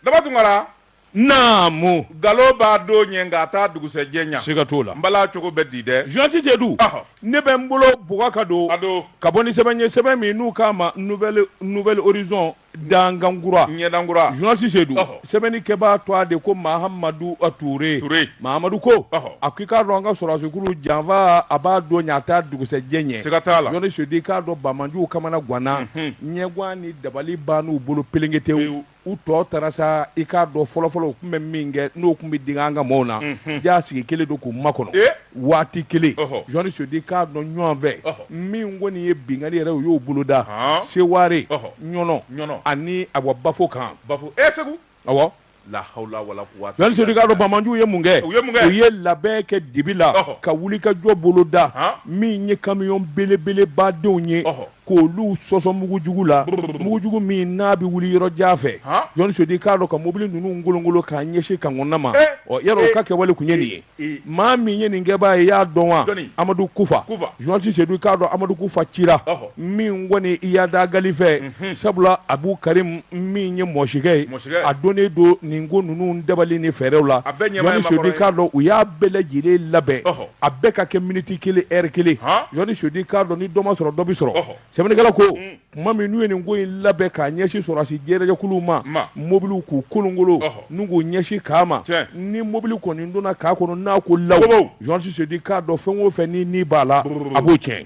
daba tunkara naamu galo b'a don ɲɛ nka a t'a dugusɛjɛ ɲa siga t'o la n bala cogo bɛ di dɛ journaliste Seydou Ɔhɔ. ne bɛ n bolo bugɔ ka don a don ka bɔ ni sɛbɛn ye sɛbɛn min n'u k'a ma nouvelle nouvelle horizon dangangura ɲɛdankura journaliste Seydou Ɔhɔ. sɛbɛnni kɛbaa tɔ a de ko mahamadu uh, ture Ture. mahamadu ko Ɔhɔ. a ko i k'a dɔn an ka sɔrɔdasikulu janfa a b'a don ɲɛ a t'a dugusɛjɛ ɲɛ siga t'a la Mhm. journaliste Seydou i k'a dɔn banbaanciw kamana ganna ɲɛguwan ni dabali bann'u bolo pelengetew Pewu. u tɔ taara sa i k'a dɔn fɔlɔfɔlɔ u tun bɛ min kɛ n'o tun bɛ digi an ka maaw na jaa sigi kelen don k'u makɔnɔ waati kelen journaliste Seydou i k'a dɔn ɲɔgɔn fɛ min kɔni ye binkanli yɛrɛ u y'o boloda seware ɲɔnɔ ɲɔnɔ ani awɔ bafo kan bafo e segu la hawula wala journaliste Seydou i k'a dɔn banbaanciw ye mun kɛ u u ye labɛn kɛ dibi la ka wulikajɔ boloda min ye kamiyɔn belebelebadenw ye k'olu sɔsɔ mugujugu la mugujugu min n'a bɛ wuli yɔrɔ jan fɛ journaliste Seydou i k'a dɔn ka mobili ninnu kolonkolon k'a ɲɛsin kan kɔnɔna ma ɔ yɔrɔ o ka kɛwale tun ye nin ye maa min ye nin kɛbaa ye i y'a dɔn wa amadu kufa journaliste Seydou i k'a dɔn amadu kufa cira min kɔni Iyad Ag Ghali fɛ sabula Abu Karim min ye mɔsikɛ ye a donnen don nin ko ninnu dabali ni fɛɛrɛw la journaliste Seydou i k'a dɔn u y'a bɛɛ lajɛlen labɛn a bɛɛ ka kɛ miniti kelen heure kelen journaliste Seydou i k'a dɔn ni dɔ ma sɔrɔ dɔ bɛ sɔrɔ sɛbɛnnikɛla ko tuma min n'u ye nin ko in labɛn k'a ɲɛsin sɔrɔdasi jɛrɛjɛkulu ma mobili k'u kolonkolon n'u k'u ɲɛsin kan ma ni mobili kɔni donna kan kɔnɔ n'a ko law journaliste Seydou i k'a dɔn fɛn o fɛn ni ni b'a la a b'o tiɲɛ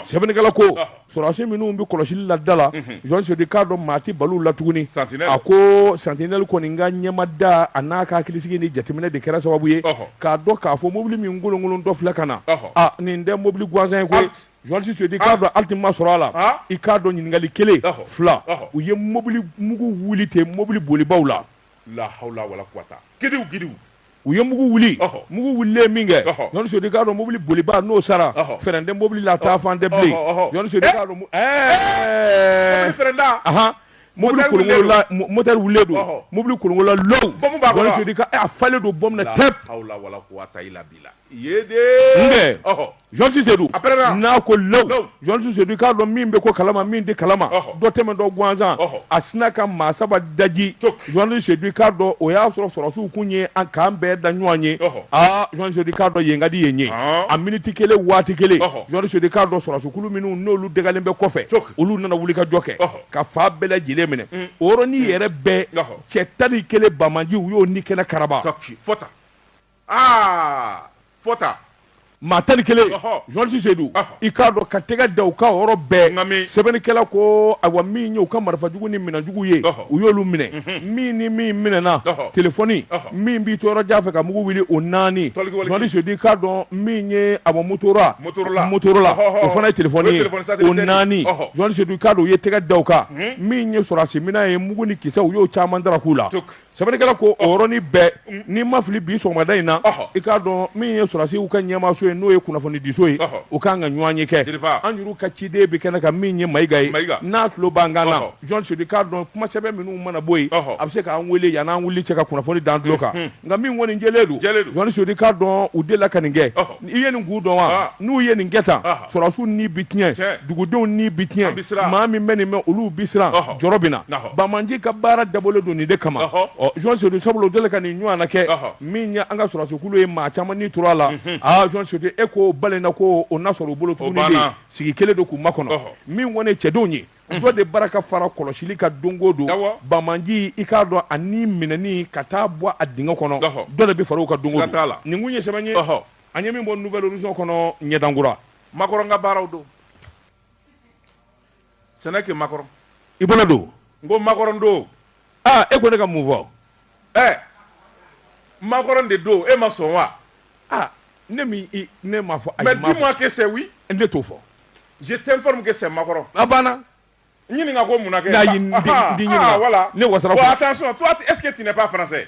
sɛbɛnnikɛla ko sɔrɔdasi minnu bɛ kɔlɔsili la da la journaliste Seydou i k'a dɔn maa tɛ bal'u la tuguni a ko santinɛli kɔni ka ɲɛmada a n'a ka hakilisigi ni jateminɛ de kɛra sababu ye k'a dɔn k'a fɔ mobili min kolonkolontɔ filɛ ka na a nin tɛ mobili gansan ye koyi journaliste Seydou i k'a dɔn halte ma sɔrɔ a la i k'a dɔn ɲininkali kelen fila u ye mobili mugu wuli ten mobili bolibaw la la hawula wala kuwata gidiw gidiw u ye mugu wuli mugu wulilen min kɛ journaliste Seydou i k'a dɔn mobili bolibaa n'o sara fɛrɛn tɛ mobili la taa fan tɛ bilen journaliste Seydou i k'a dɔn ɛɛ fɛrɛnda ahan mobili kolonkolonna motɛri wulilen don mobili kolonkolonna lowu bɔmu b'a kɔnɔ journaliste Seydou i k'a a falen don bɔmu na tɛp hawula wala kuwata ila bila yedee n kɛ ɔhɔ journaliste Seydou n'a ko law journaliste Seydou i k'a dɔn min bɛ ko kalama min tɛ kalama dɔ tɛmɛtɔ gansan a sina ka maa saba daji journaliste Seydou i k'a dɔn o y'a sɔrɔ sɔrɔdasiw kun ye an k'an bɛɛ da ɲɔgɔn ye aa journaliste Seydou i k'a dɔn yen ka di yen ye a miniti kelen waati kelen journaliste Seydou i k'a dɔn sɔrɔdasikulu minnu n'olu dagalen bɛ kɔfɛ olu nana wulikajɔ kɛ ka fan bɛɛ lajɛlen minɛ o yɔrɔnin yɛrɛ bɛɛ cɛ tan ni kelen banbaanci u y'o ni kɛnɛ karaba aa fɔta maa tan ni kelen journaliste Seydou i k'a dɔn ka tɛgɛ da u ka yɔrɔ bɛɛ sɛbɛnnikɛla ko ayiwa min ye u ka marifa jugu ni minɛn jugu ye u y'olu minɛ mhm. min ni min minɛna telefɔni min b'i to yɔrɔ jan fɛ ka mugu wuli o naani journaliste Seydou i k'a dɔn min ye awa motora motorola o fana ye telefɔni ye o naani journaliste Seydou i k'a dɔn u ye tɛgɛ da u kan mhm. min ye sɔrɔdasi minɛn ye mugu ni kisɛ u y'o caman dara k'u la Sɛbɛnnikɛla ko o yɔrɔnin bɛɛ n'i ma fili bi sɔgɔmada in na i k'a dɔn min ye sɔrɔdasiw ka ɲɛmaaso ye n'o ye kunnafonidiso ye u ka kan ka ɲɔgɔnye kɛ an yɛrɛw ka ciden bɛ kɛnɛ kan min ye Mayiga ye n'a tulo b'an kan na journaliste Seydou i k'a dɔn kuma sɛbɛn minnu mana bɔ yen a bɛ se k'an wele yanni an wuli cɛ ka kunnafoni d'an tulo kan nka min kɔni jɛlen don journaliste Seydou i k'a dɔn u delila ka nin kɛ i ye nin kun dɔn wa ah. n'u ye nin kɛ tan ah. sɔrɔdasiw ni bi tiɲɛ dugudenw ni bi tiɲɛ maa min bɛ nin mɛn olu bi siran jɔrɔ bɛ na banbaanci ka baara dabɔlen don nin de kama ɔ journaliste Seydou sabula o delila ka nin ɲɔgɔnna kɛ min ye an ka sɔrɔdasikulu ye maa caman ni tora a la mhm. aa journaliste Seydou e ko balen na ko o na sɔrɔ u bolo tuguni de sigi kelen don k'u makɔnɔ min kɔni ye cɛdenw ye dɔ de bara ka fara kɔlɔsili kan don o don banbaanci i k'a dɔn ani minɛni ka taa bɔ a dingɛ kɔnɔ dɔ de bɛ fara u kan don o don nin kun ye sɛbɛn ye an ye min bɔ Nouvel Horizon kɔnɔ ɲɛdankura makɔrɔ ka baaraw don sɛnɛ kɛ makɔrɔ i bolo don n ko makɔrɔn don aa e ko ne ka mun fɔ ɛ makɔrɔn de don e ma sɔn wa aa ne min i ne m'a fɔ ayi mais dis-moi que c'est oui ne t'o fɔ je t'informe que c'est makɔrɔn a banna ɲininka ko mun na kɛ n'a ye n den ɲininka voilà ne wasara bon attention toi est-ce que tu n'es pas français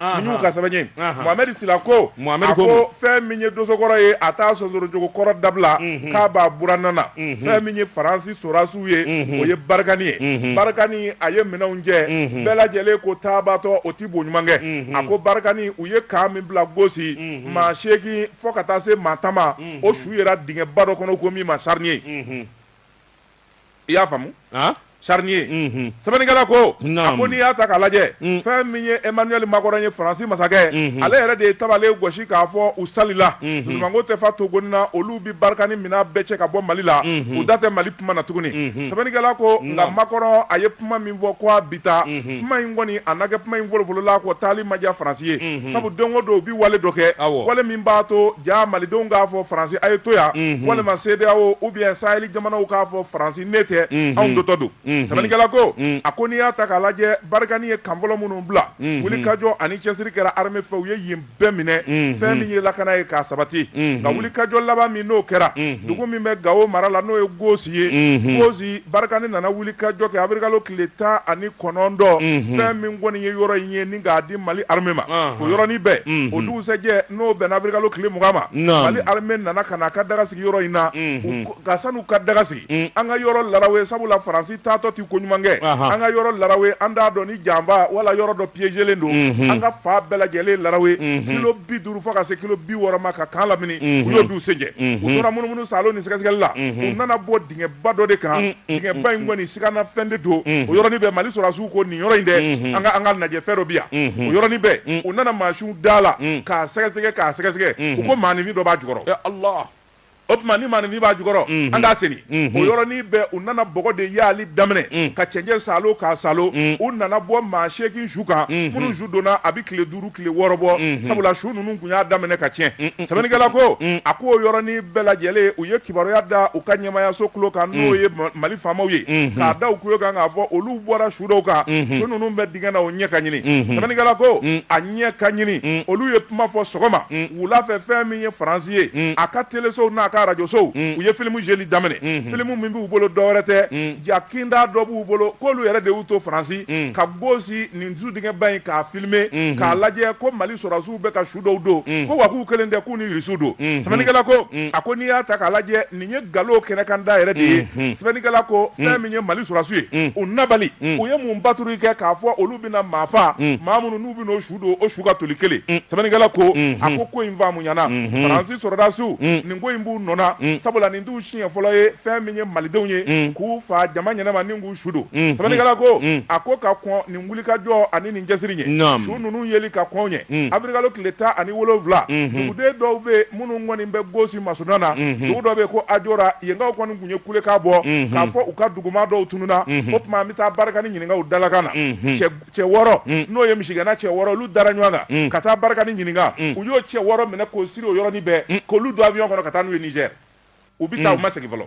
min y'u ka sɛbɛn ye mohamɛdi sila ko a ko fɛn min ye dosokɔrɔ ye a t'a sonsorojogo kɔrɔ dabila k'a b'a buranna na fɛn min ye faransi sorasiw ye o ye barikani ye barikani a ye minɛnw cɛ bɛɛ lajɛlen ko taabatɔ o ti bo ɲuman kɛ a ko barikani u ye kan min bila gosi maa seegin fo ka taa se maa tan ma o su yera dingɛba dɔ kɔnɔ ko min ma charnier i y'a faamu charnier mhm. sɛbɛnnikɛla ko a ko n'i y'a ta k'a lajɛ mm. fɛn min ye emmanuel makɔrɔn ye faransi masakɛ mhm. ale yɛrɛ de ye tabale gosi k'a fɔ u salila mhm. dusumanko tɛ fa togoni na olu bi barikani mina bɛɛ cɛ ka bɔ mali la u da tɛ mali kuma na tuguni sɛbɛnnikɛla ko nka makɔrɔn a ye kuma min fɔ ko a bi taa kuma in kɔni a na kɛ kuma in fɔlɔfɔlɔla ko taali ma diya Faransi ye sabu don o don u bɛ wale dɔ kɛ wale min b'a to jaa malidenw k'a fɔ Faransi a ye to yan walima CEDEAO ou bien sahɛli jamanaw k'a fɔ Faransi n'e tɛ anw dɔ tɔ don sɛbɛnnikɛla ko a ko n'i y'a ta k'a lajɛ Barikani ye kan fɔlɔ minnu bila wulikajɔ ani cɛsiri kɛra armée fɛ u ye yen bɛɛ minɛ fɛn min ye lakana ye k'a sabati nka wulikajɔ laban min n'o kɛra dugu min bɛ gawo mara la n'o ye gosi ye gosi barikani nana wulikajɔ kɛ abirikalo tile tan ani kɔnɔntɔn fɛn min kɔni ye yɔrɔ in ye ni k'a di mali armée ma o yɔrɔnin bɛɛ o dugusɛjɛ n'o bɛnna abirikalo tile mugan ma mali armée nana ka na a ka daga sigi yɔrɔ in na nka san'u ka daga sigi mm. an ka yɔrɔ larawe sabula faransi taatɔ ti ko ɲuman kɛ an ka yɔrɔ larawe an t'a dɔn ni janba wala yɔrɔ dɔ piégelen don mhm. an ka fan bɛɛ lajɛlen larawe mhm. kilo bi duuru fo ka se kilo bi wɔɔrɔ ma ka kan lamini mhm. u y'o du sen jɛ u tora munumunu salo ni sɛgɛsɛgɛli la u nana bɔ dingɛba dɔ de kan mm, mm, dingɛba in kɔni sigana fɛn de don o yɔrɔnin bɛɛ mali sɔrɔdasiw ko nin yɔrɔ in dɛ an ka an k'a lajɛ fɛn dɔ bi yan o yɔrɔnin bɛɛ u nana mansinw da la k'a sɛgɛsɛgɛ k'a sɛgɛsɛgɛ u ko maaninfin dɔ b'a jukɔrɔ o tuma ni maaninfin b'a jukɔrɔ mhm. an k'a seni mhm. o yɔrɔnin bɛɛ u nana bɔgɔ de y'ali daminɛ mhm. ka cɛncɛn salo k'a salo u nana bɔ maa seegin su kan minnu su donna a bɛ tile duuru tile wɔɔrɔ bɔ sabula su ninnu tun y'a daminɛ ka tiɲɛ sɛbɛnnikɛla ko a ko o yɔrɔnin bɛɛ lajɛlen u ye kibaruya da u ka ɲɛmaayaso tulo kan n'o ye mali faamaw ye k'a da u tulo kan k'a fɔ olu bɔra su dɔw kan su ninnu bɛ dingɛ na o ɲɛ ka ɲini sɛbɛnnikɛla ko a ɲɛ ka ɲini olu ye kuma fɔ sɔgɔma wula fɛ fɛn min ye faransi ye a ka telesow n'a ka radiosow u ye filimu jeli daminɛ filimu min b'u bolo dɔwɛrɛ tɛ ja kinda dɔ b'u bolo k'olu yɛrɛ de y'u to faransi ka gosi nin su dingɛba in k'a filime k'a lajɛ ko mali sɔrɔdasiw bɛ ka su dɔw don ko wa k'u kelen tɛ k'u ni irisiw don sɛbɛnnikɛla ko a ko n'i y'a ta k'a lajɛ Nin ye nkalon kɛnɛkan da yɛrɛ de ye sɛbɛnnikɛla ko fɛn min ye Mali sɔrɔdasiw ye u nabali u ye mun patrouille kɛ k'a fɔ olu bɛna maa faa maa minnu n'u bɛna o su don o su ka toli kelen sɛbɛnnikɛla ko a ko ko in faamuyana Faransi sɔrɔdasiw nin ko in b'u nɔ na sabula nin t'u siɲɛ fɔlɔ ye fɛn min ye Malidenw ye k'u faa jama ɲɛnama ni k'u su don sɛbɛnnikɛla ko a ko ka kɔn nin wulikajɔ ani nin cɛsiri ɲɛ su ninnu yeli ka kɔn ɲɛ abirikalo tile tan ani wolowula duguden dɔw bɛ minnu kɔni bɛ gosi masurunna na dugu dɔ bɛ ko ajora yenkaw kɔni tun ye kulekan bɔ k'a fɔ u ka duguma dɔw tununna o tuma an bɛ taa barikani ɲininka u dalakan na cɛ wɔɔrɔ n'o ye misigɛnna cɛ wɔɔrɔ olu dara ɲɔgɔn kan ka taa barikani ɲininka u y'o cɛ wɔɔrɔ minɛ k'o siri o yɔrɔnin bɛɛ k'olu don avion kɔnɔ ka taa n'u ye niger u bɛ taa u ma segin fɔlɔ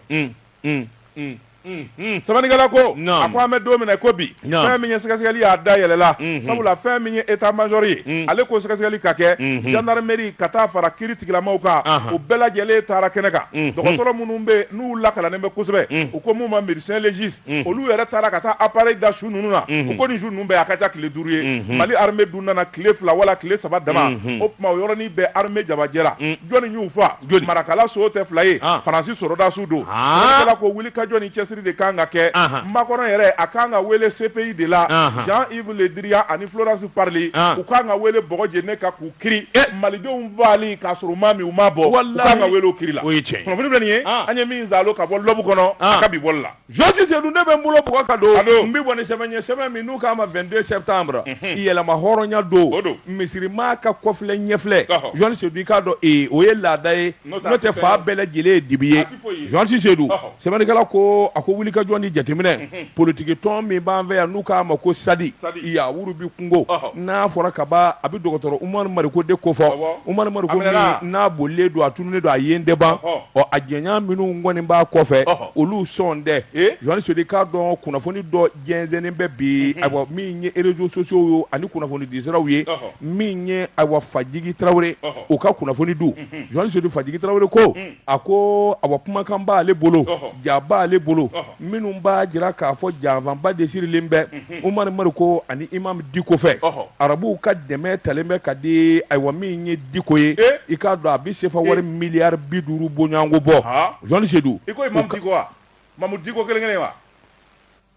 sɛbɛnnikɛla ko a ko an bɛ don min na ko bi fɛn min ye sɛgɛsɛgɛli y'a dayɛlɛla sabula fɛn min ye état major ye ale ko sɛgɛsɛgɛli ka kɛ gendarmerie ka taa fara kiiritigilamaw kan u bɛɛ lajɛlen taara kɛnɛ kan dɔgɔtɔrɔ minnu bɛ n'u lakalannen bɛ kosɛbɛ u ko minnu ma médecin légiste Mm. olu yɛrɛ taara ka taa appareil da su ninnu na mm-hmm. u ko nin su ninnu bɛɛ a ka ca tile duuru ye mm-hmm. mali armée dun nana tile fila wala tile saba dama mm-hmm. o tuma o yɔrɔnin bɛɛ armée jabajɛra mm. jɔni y'u fa marakala so tɛ fila ye ah. faransi sɔrɔdasiw don ah. sɛbɛnnikɛla ko wulikajɔ ni cɛsiri de kan ka kɛ ah. makɔrɔn yɛrɛ a kan ka wele cpi de la jean yves le drian ani florence parly u kan ka wele bɔgɔ jene ka k'u kiri malidenw faali k'a sɔrɔ maa min u ma bɔ u kan ka weele o kiri la o ye kunnafoni filɛ nin ye an ye min zalo ka bɔ L'Aube kɔnɔ a ka bi bɔli la journaliste Seydou ne bɛ n bolo bugu ka don don n bɛ bɔ ni sɛbɛn ye sɛbɛn min n'u k'a ma vingt-deux septembre yɛrɛmahɔrɔnya don don misiri maa ka kɔfilɛ ɲɛfilɛ journaliste Seydou i k'a dɔn o ye laada ye n'o tɛ fan bɛɛ lajɛlen ye dibi ye Journaliste Seydou sɛbɛnnikɛla ko a ko wuli ka jɔ ni jateminɛ politigi tɔn min b'an fɛ yan n'u k'a ma ko Sadi Yawuru bɛ kungo n'a fɔra ka ban a bɛ dɔgɔtɔrɔ Umaru Mariko de kofɔ Umaru Mariko n'a bolilen don a tununnen don a yen dɛba ɔ a jɛɲɔgɔn minnu kɔni b'a kɔfɛ olu sɔn dɛ journaliste Seydou i k'a dɔn kunnafoni dɔ jɛnsɛnnen bɛ bi ayiwa min ye réseaux sociaux ye ani kunnafoni disiraw ye min ye ayiwa fajigi tarawele o ka kunnafoni don journaliste Seydou fajigi tarawele ko A ko ayiwa kumakan b'ale bolo ja b'ale bolo minnu b'a jira k'a fɔ janfaba de sirilen bɛ Umaru Mariko ani Imamu Diko fɛ arabuw ka dɛmɛ talen bɛ ka di ayiwa min ye diko ye i k'a dɔn a bɛ sefa wari miliyari bi duuru bɔɲɔgɔnko bɔ journaliste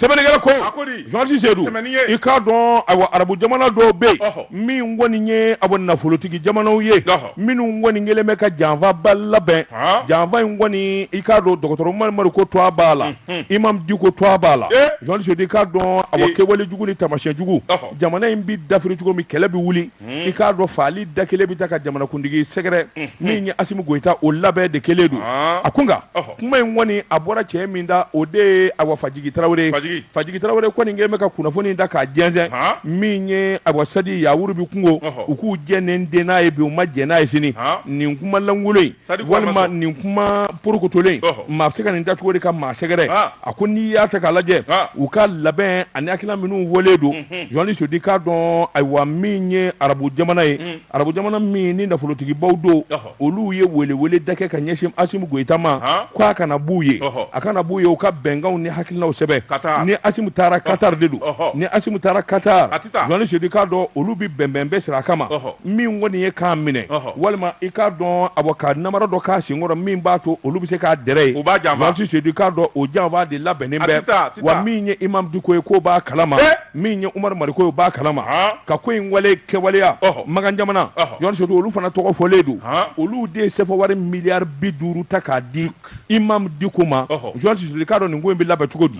sɛbɛnnikɛla ko journaliste Seydou i k'a dɔn ayiwa arabu jamana dɔw bɛ yen min kɔni ye ayiwa nafolotigi jamanaw ye minnu kɔni kɛlen bɛ ka janfaba labɛn janfa in kɔni i k'a dɔn dɔgɔtɔrɔ Umaru Mariko tuwa b'a la Imam Diko tuwa b'a la journaliste Seydou i k'a dɔn ayiwa kɛwale jugu ni taamasiyɛn jugu jamana in bɛ dafiri cogo min kɛlɛ bɛ wuli i k'a dɔn faali da kelen bɛ taa ka jamanakuntigi sɛgɛrɛ min ye Asimi Goyita o labɛn de kɛlen don a ko nka kuma in kɔni a bɔra cɛ min da o de ye awa Fajigi Tarawele ye Fajigi Tarawele kɔni kɛlen bɛ ka kunnafoni in da k'a jɛnsɛn min ye awa Sadi Yawuru bɛ kungo u k'u jɛ ni n den n'a ye bi u ma jɛ n'a ye sini nin kumalankolon in walima nin kuma porokotolen maa bɛ se ka nin da cogo de ka maa sɛgɛrɛ a ko n'i y'a ta k'a lajɛ u ka labɛn ani hakilina minnu fɔlen don journaliste Seydou i k'a dɔn ayiwa min ye arabu jamana ye arabu jamana min ni nafolotigibaw don olu ye welewele da kɛ ka ɲɛsin Asimi Goyita ma k'a ka na b'u ye a ka na b'u ye u ka bɛnkanw ni hakilinaw sɛbɛn ni Asimi taara Katari de don ni Asimi taara Katari journaliste Seydou i k'a dɔn olu bɛ bɛnbɛn bɛ sira a kama min kɔni ye k'a minɛ walima i k'a dɔn awa ka namara dɔ k'a senkɔrɔ min b'a to olu bɛ se k'a dɛrɛ ye journaliste Seydou i k'a dɔn o janfa de labɛnnen bɛ awa min ye Imamu Diko ye k'o b'a kalama min ye Umaru Mariko ye o b'a kalama ka ko in wale kɛwaleya makan jamana journaliste Seydou olu fana tɔgɔ fɔlen don olu de ye sefa wari miliyari bi duuru ta k'a di Imamu Diko ma journaliste Seydou i k'a dɔn nin ko in bɛ labɛn cogo di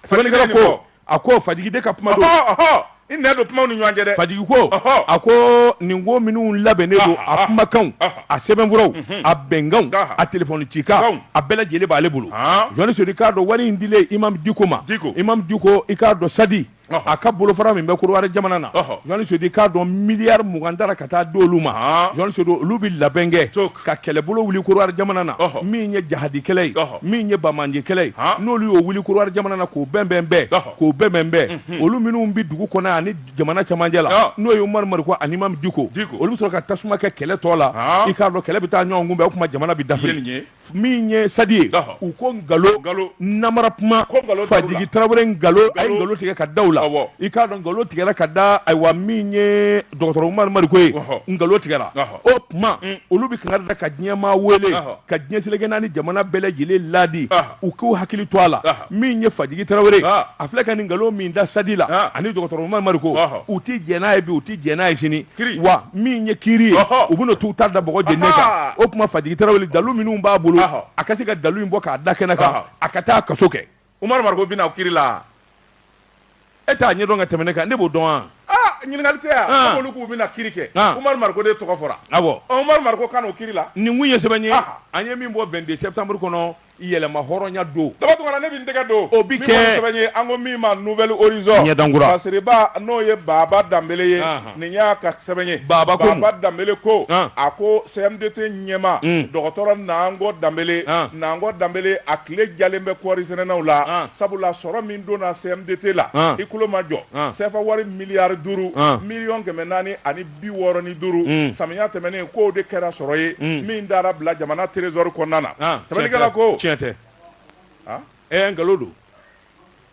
sɛbɛnnikɛla ko a ko fajigi de ka kuma don i nɛ don kumaw ni ɲɔgɔn cɛ dɛ fajigi ko a ko nin ko minnu labɛnnen don a kumakanw a sɛbɛnfuraw mhm. a bɛnkanw a telefɔni cikan a bɛɛ lajɛlen b'ale bolo jeli seyidu i k'a dɔn wari in dilen imam diko ma imam diko i k'a dɔn sadi a ka bolofara min bɛ korowari jamana na jeli seyidu i k'a dɔn miliyari mugan tara ka taa di olu ma jeli seyidu olu bɛ labɛn kɛ ka kɛlɛbolo wuli korowari jamana na min ye jahadikɛlɛ ye min ye banbaancikɛlɛ ye n'olu y'o wuli korowari jamana na k'o bɛnbɛn bɛɛ k'o bɛnbɛn bɛɛ olu minnu bɛ dugu kɔnɔ ani jamana camancɛ la n'o ye Umaru Mariko ani Imam Diko olu bɛ sɔrɔ ka tasuma kɛ kɛlɛ tɔ la i k'a dɔn kɛlɛ bɛ taa ɲɔgɔn kunbɛn o tuma jamana bɛ dafiri min ye sadi ye u ko nkalon namara kuma Fajigi Tarawele nkalon a ye nkalon tigɛ ka da u la i k'a dɔn nkalon tigɛra ka da ayiwa min ye dɔgɔtɔrɔ Umaru Mariko ye nkalon tigɛra. o tuma mm. olu bɛ kankari da ka diɲɛmaa wele ka diɲɛ seleke naani jamana bɛɛ lajɛlen laadi u k'u hakili to a la min ye fajigi tarawele a filɛ ka nin nkalon min da sadi la ani dɔgɔtɔrɔ umaru mariko u tɛ jɛn n'a ye bi u tɛ jɛn n'a ye sini wa min ye kiri ye u bɛna t'u ta da bɔgɔ jeni kan o tuma fajigi tarawele dalu minnu b'a bolo a ka se ka dalu in bɔ k'a da kɛnɛ kan a ka taa kaso kɛ umaru mariko bɛna kiri la e t'a ɲɛdɔn ka tɛmɛ ne kan ne b'o dɔn wa ah ɲininkali tɛ yan ah. k'olu k'u bɛna kiri kɛ ah. umaru mariko de tɔgɔ fɔra awɔ ah, umaru mariko ka na o kiri la nin kun ye sɛbɛn ye an ye min bɔ 22 septembre kɔnɔ yɛrɛmahɔrɔnya don daba tɔgɔ la ne bɛ n tɛgɛ don o bi kɛ min sɛbɛn ye an ko min ma nouvel horizon ɲɛdankura basiriba n'o ye baba danbele ye nin y'a ka sɛbɛn ye Baba ko Baba Danbele ko An. a ko CMDT ɲɛmaa Un. dɔgɔtɔrɔ Nango Danbele An. Nango Danbele a tile jalen bɛ kɔɔri sɛnɛnaw la An. sabula sɔrɔ min donna CMDT la An. i kulo majɔ An. CFA wari miliyari duuru An. miliyɔn kɛmɛ naani ani bi wɔɔrɔ ni duuru Un. samiya tɛmɛnen k'o de kɛra sɔrɔ ye Un. min taara bila jamana trésor kɔnɔna na An, sɛbɛnnikɛla ko tiɲɛ tɛ An? ɛɛ nkalon don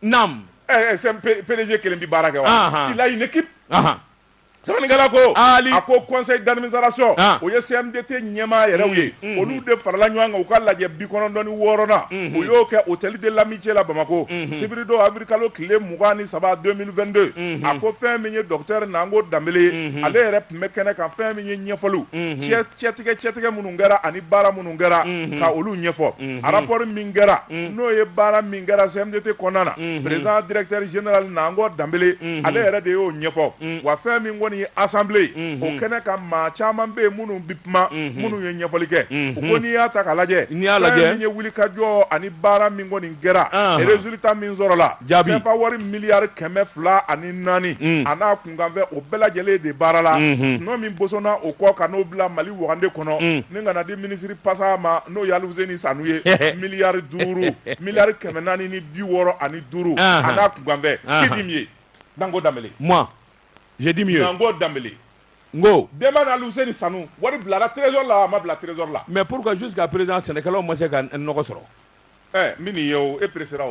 Naam. Est-ce PDG kelen bɛ baara kɛ wa? Anhan. Il a une équipe. Anhan. Sɛbɛnnikɛla ko. Ali. A ko conseil d'administration. An. O ye CMDT ɲɛmaa yɛrɛw ye. Unhun. Olu de farala ɲɔgɔn kan u ka lajɛ bi kɔnɔntɔn ni wɔɔrɔnan. Unhun. U y'o kɛ Hôtel de l'Amitié la Bamako. Unhun. Sibiridon avril kalo tile mugan ni saba 2022. Unhun. A ko fɛn min ye docteur Nango Danbele ye. Unhun. Ale yɛrɛ tun bɛ kɛnɛ kan fɛn min ye ɲɛfɔliw. Unhun. Cɛ cɛtigɛ cɛtigɛ minnu kɛra ani baara minnu kɛra ka olu ɲɛfɔ rapport min kɛra n'o ye baara min kɛra CMDT kɔnɔna na président directeur général nango danbele ale yɛrɛ de y'o ɲɛfɔ wa fɛn min kɔni ye assemblée ye o kɛnɛ kan maa caman bɛ yen minnu bɛ kuma minnu ye ɲɛfɔli kɛ u ko n'i y'a ta k'a lajɛ fɛn min ye wulikajɔ ani baara min kɔni kɛra résultat min sɔrɔla CFA wari miliyari kɛmɛ fila ani naani a kanfɛ o bɛɛ lajɛlen de baara la n'o min bosonna o kɔ ka n'o bila mali wagande kɔnɔ ni ka n'a di minisiri pasa ma n'o ye aluseni sanu ye miliyari duuru miliyari kɛmɛ naani ni bi wɔɔrɔ ani duuru a n'a kunkanfɛ qui dit mieux nango danbele moi je dis mieux nango danbele n ko demande à aluseni sanu wari bilara trésor la a ma bila trésor la mais pourquoi jusqu'à présent sɛnɛkɛlaw ma se ka n nɔgɔ sɔrɔ min ye e président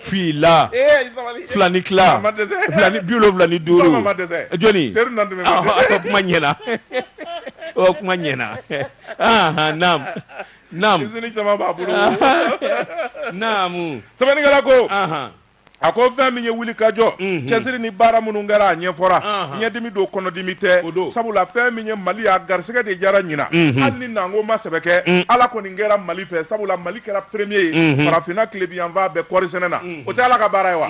fila fila ni tila fila ni bi wolonwula ni duuru jɔnni a kuma ɲɛna o kuma ɲɛna naam naam izini caman b'a bolo naamu sɛbɛnnikɛla ko a ko fɛn min ye wuli ka jɔ mhm. cɛsiri ni baara minnu kɛra a ɲɛfɔra ɲɛdimi don kɔnɔdimi tɛ sabula fɛn min ye mali a garisɛgɛ de jara ɲinan mhm. hali ni nango ma sɛbɛ kɛ mhm. ala kɔni kɛra mali fɛ sabula mali kɛra premier ye farafinna tilebinyanfan bɛɛ kɔɔrisɛnɛ na o tɛ ala ka baara ye wa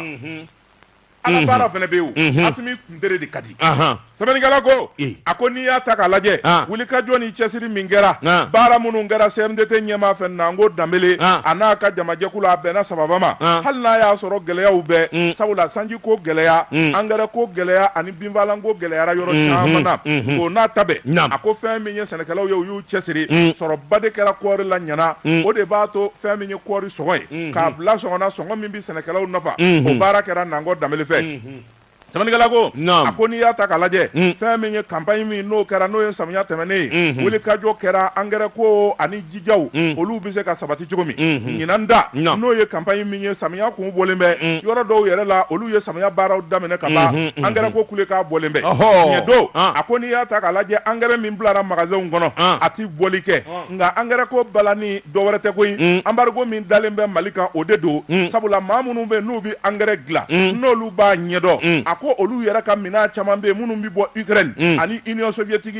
ala baara fana bɛ yen asimi kuntere de ka di sɛbɛnnikɛla ko a ko n'i y'a ta k'a lajɛ wuli ka jɔ ni cɛsiri min kɛra baara minnu kɛra CMDT ɲɛmaa fɛ nango danbele a n'a ka jamajɛkulu a bɛnna sababa ma hali n'a y'a sɔrɔ gɛlɛyaw bɛɛ sabula sanji ko gɛlɛya angɛrɛ ko gɛlɛya binfaalanko gɛlɛyara yɔrɔ caman na o n'a ta bɛɛ a ko fɛn min ye sɛnɛkɛlaw ye u y'u cɛsiri sɔrɔba de kɛra kɔɔri la ɲinan o de b'a to fɛn min ye kɔɔri sɔngɔ ye k'a bila sɔngɔ na sɔngɔ min bɛ sɛnɛkɛlaw nafa o baara kɛra nango danbele fɛ sɛbɛnnikɛla ko a ko n'i y'a ta k'a lajɛ fɛn min ye kanpaɲi min n'o kɛra n'o ye samiya tɛmɛnen ye wuli ka jɔ kɛra angɛrɛ ko ani jaw olu bɛ se ka sabati cogo min ɲinan da n'o ye kanpaɲi min ye samiya kun bɔlen bɛ yɔrɔ dɔw yɛrɛ la olu ye samiya baaraw daminɛ ka ban angɛrɛ ko kulekan bɔlen bɛ tiɲɛ don a ko n'i y'a ta k'a lajɛ angɛrɛ min bilara magasaw kɔnɔ a tɛ bɔli kɛ nka angɛrɛ ko balanni dɔ wɛrɛ tɛ koyi anbarigo min dalen bɛ mali kan o de don sabula maa minnu bɛ n'u bɛ angɛrɛ dilan n'olu b'a ɲɛdɔn a ko olu yɛrɛ ka minɛn caman bɛ yen minnu bɛ bɔ ukraine ani union soviétique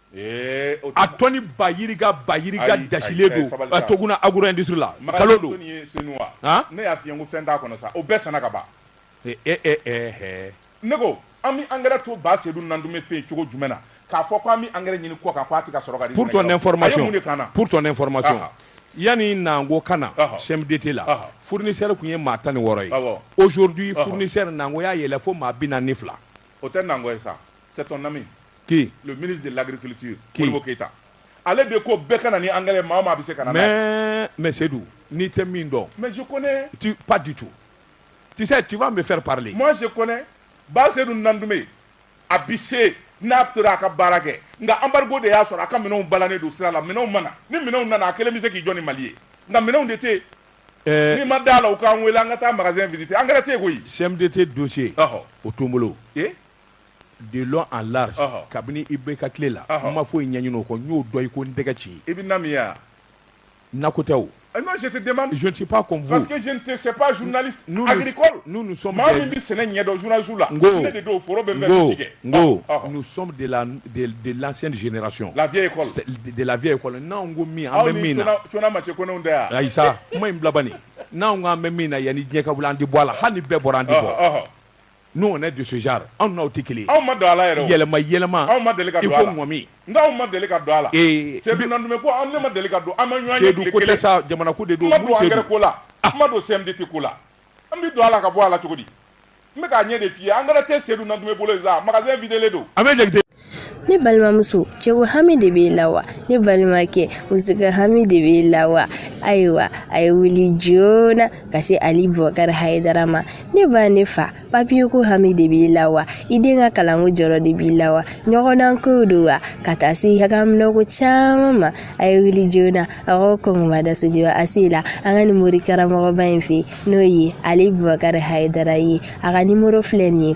a tɔni ba yirika ba yirika dasilen don toguna agro industrie la kalo don ne y'a f'i ye ko fɛn t'a kɔnɔ sa o bɛɛ sanna ka ban ne ko an bɛ angɛrɛ to ba sedu nantume fɛ cogo jumɛn na k'a fɔ k'an bɛ angɛrɛ ɲini kɔ kan k'a tɛ ka sɔrɔ pour ton information yani nango ka na CMDT la fournisseur tun ye maa tan ni wɔɔrɔ ye aujourd'hui fournisseur nango y'a yɛlɛ fo maa bi naani ni fila o tɛ nango ye sa C'est ton ami. Qui Le ministre de l'Agriculture, Qui Modibo Keita. Ale de ko bɛɛ ka na ni engrais maa o maa bɛ se ka na n'a ye. Mais, mais Seydou, n'i tɛ min dɔn, Mais je connais. tu, pas du tout. Tu sais, tu vas me faire parler. Moi je connais. Ba Seydou Nantume, a bɛ se n'a tora a ka baara kɛ. Nka embargo de y'a sɔrɔ a ka minɛnw balannen don sira la. Minɛnw mana. Ni minɛnw nana a kelen bɛ se k'i jɔ ni Mali ye. Nka minɛnw de tɛ yen. Euh, N'i ma d'a la u k'an wele an ka taa magasin visiter. Engrais tɛ yen koyi. CMDT dossier, Ɔhɔ. o t'o n bolo. Ee de dɔn a la kabini i bɛ ka tile la an ma fɔ i ɲɛɲini o kɔ n'o dɔn i ko n tɛgɛ ci ye i bɛ na minya nako tɛ o tɛzsi tɛz n'u bɛ sɛnɛ ɲɛdɔnzsiw la de don foro bɛ de la de laɛnyrasiɔn lafiya de lafiya ye kɔnɔ n'an ko min aw bɛ min ma cɛ kow da yan ayi kuma in bilabali n'an ko an bɛ min na yan ni ɲɛka an di bɔ a la hali bɛɛ bɔra an di Nous on est de ce genre an n'aw tɛ kelen ye, an ma don a la yɛrɛ o, yɛlɛma yɛlɛma, an ma deli ka don a la, iko ŋɔmi, nka an ma deli ka don a la, ee, Sedu Nandumɛ ko an de ma deli ka don, an ma ɲɔgɔn ye tile kelen, Sedu ko tɛ sa, jamana ko de don, n ma don angɛrɛ ko la, ah. n ma don CMDT ko la, an bɛ don a la ka bɔ a la cogo di, n bɛ k'a ɲɛ de f'i ye, angɛrɛ tɛ Sedu Nandumɛ bolo yen sa, magasin videlen don. ne balimamuso cɛko hami de b'e la wa ne balimakɛ musoko hami de b'e la wa ayiwa a ye wuli joona ka se ali bubakari hayidara ma ne ba ne fa papiye ko hami de b'i la wa i den ka kalanko jɔrɔ de b'i la wa ɲɔgɔndan ko don wa ka taa se hakaminɛko caman ma a ye wuli joona a ko kɔngɔba da sojiba a se la an ka nin morikaramɔgɔba in fɛ n'o ye ali bubakari hayidara ye a ka nimoro filɛ nin ye